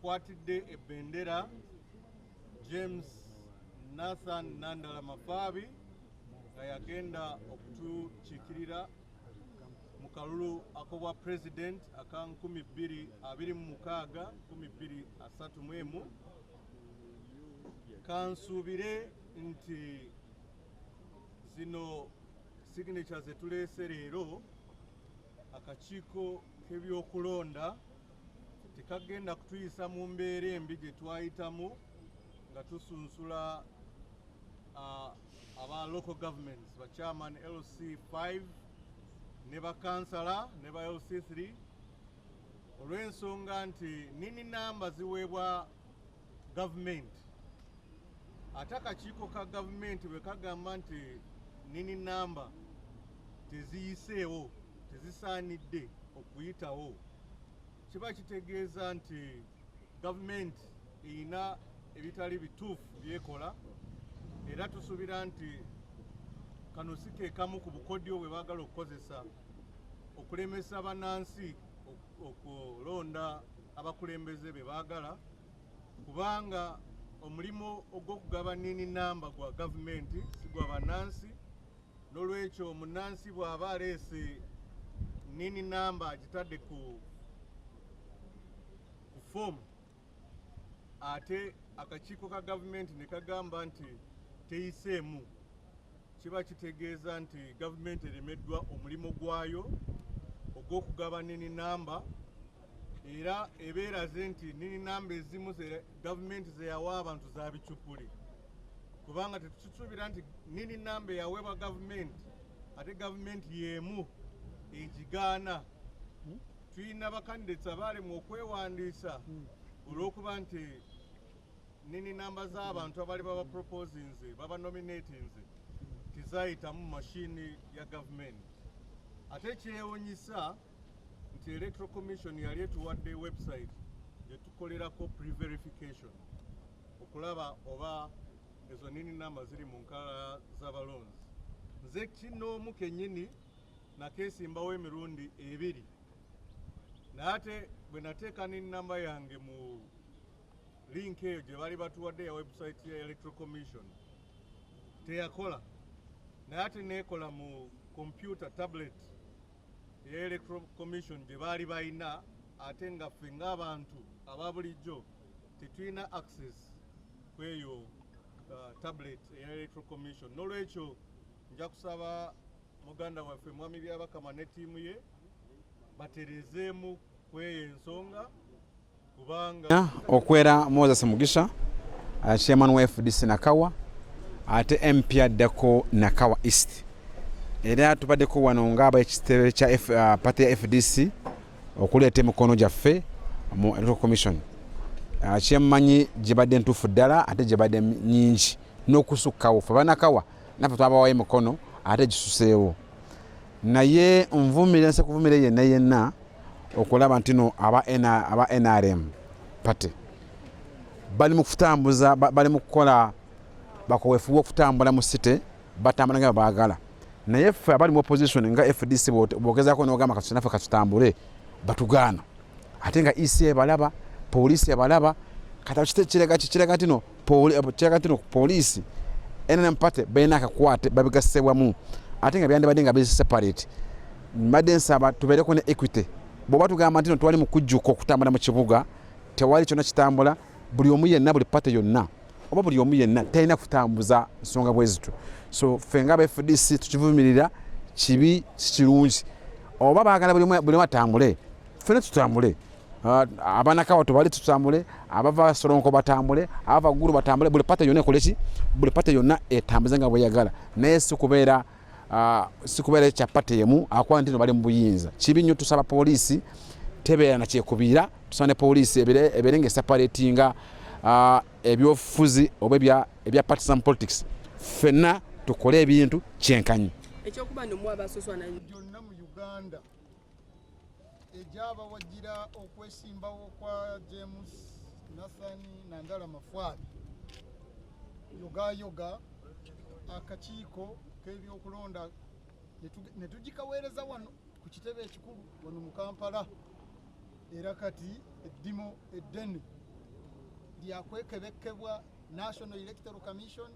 Kwatidde ebendera James Nathan Nandala Mafaabi nga yagenda okutukiikirira mu kalulu akobwa president aka 2026 kansuubire nti zino signature zetuleese leero akakiiko k'ebyokulonda tekagenda kutuyisa mu mbeera embi gye twayitamu nga tusunsula aba local governments ba chairman lc 5 ne bakansala ne ba lc 3 olw'ensonga nti nini namba ziweebwa gavumenti ate akakiiko ka gavumenti bwe kagamba nti nini namba teziyiseewo tezisaanidde okuyitawo kiba kitegeeza nti gavumenti erina ebitali bituufu byekola era tusuubira nti kano si ke kamu ku bukodyo bwe baagala okukozesa okulemesa bannansi okulonda abakulembeze be baagala kubanga omulimu ogw'okugaba nini namba gwa gavumenti si gwa bannansi n'olwekyo munnansi bw'aba aleese nini namba agitadde ku ku foomu ate akakiiko ka gavumenti ne kagamba nti teyiseemu kiba kitegeeza nti gavumenti eremeddwa omulimu gwayo ogw'okugaba nini namba era ebeeraze nti nini namba ezimu ze gavumenti zeyawa abantu za bicupuli kubanga tetukisuubira nti nini namba eyaweebwa gavumenti ate gavumenti y'emu egigaana hmm? tulina bakandideti abaalemu okwewandiisa hmm. olw'okuba nti Nini namba z'abantu abali baba proposinze baba nominatinze tizayitamu mashini ya gavumenti ate kyewunyisa nti electoral commission yali etuwadde website gyetukolerako preverification okulaba oba ezo nini namba ziri mu nkala z'abalonzi nze kinoomu kenyini nakesimbawo emirundi ebiri naye ate bwe nateeka nini namba yange mu Link eyo gye bali batuwadde ya website ya Electoral Commission teyakola naye ate neekola mu kompyuta tablet eya Electoral Commission gye baali balina ate nga ffe ng'abantu aba bulijjo tetulina access ku eyo uh, tablet eya Electoral Commission. N'olwekyo nja kusaba muganda waffe Mwami Byabakama ne ttiimu ye batereezeemu ku eyo ensonga. okwera moses mugisha uh, chairman wa fdc nakawa ate mp addako nakawa east era tubaddeko wano ngaaba ekitebe kya uh, pate ya fdc okuleeta emikono gyaffe mu electoral commission uh, kyemmanyi gyebadde ntuufu ddala ate gyebadde nyingi n'okusukkawo fe banakawa naffe twabawayo emikono ate gisuseewo naye nvumire nse kuvumire yenna yenna okulaba ntino aba nrm party bali mukutambuza bali mukukola bakowefuba okutambula mu city batambula nga bagala naye ffe abali mu opposition nga fdc bogezako nogamba katunafe katutambule batugaana ate nga ec ebalaba poliisi ebalaba kati kiraga kiraga tino kiraga tino poliisi nrm party balina akakwate babigasse wamu ate nga byandibadde nga biri separate mbadde nsaba tubeereko ne equity bwoba tugamba ntino twali mukujjuka okutambula mu kibuga tewali kyona kitambula buli omu yenna buli pate yonna oba buli omu yenna talina kutambuza nsonga bwe zityo so ffe nga bfdc tukivumirira kibi kikirungi oba baagala buli omu atambule ffena tutambule ah, abanakawa tubali tutambule abava solonko batambule abava ggulu batambule buli pate yonna ekoleki buli pate yonna etambuze nga bweyagala naye si kubeera Ah, sikubeera ekya pate yemu akuba nti no bali mu buyinza kibi nnyo tusaba poliisi tebeera na kyekubiira tusaba ne poliisi ebeere nga esapaletinga ah, ebyofuzi oba ebya partisan politics ffenna tukole ebintu kyenkanyi ekyokuba nomwabasosoana gyonna mu uganda egyabawagira okwesimbawo kwa james nathan nandala mafwaabi yogayoga akakiiko k'ebyokulonda ne tugikaweereza wano ku kitebe ekikulu wano mu kampala era kati eddimo eddene lyakwekebekkebwa national electoral commission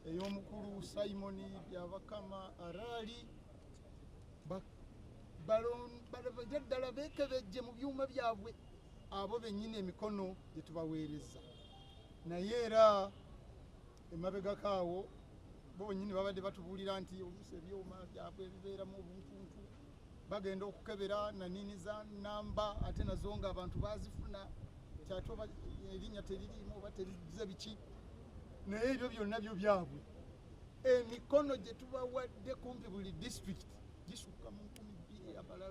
ey'omukulu simon byabakama araali balabage ddala beekebejje mu byuma byabwe abo bennyini emikono gye tubaweereza naye era emabegako awo bo bennyini babadde batubuulira nti oluusi ebyuma byabwe bibeeramu obuntuntu bagenda okukebera nanini za namba ate nazo nga abantu bazifuna kyate erinnya teririimu oba terize biki naye ebyo byonna byo byabwe emikono gye tubawadde kumpi buli disitulikiti gisukka mu nkumi bbiri amalala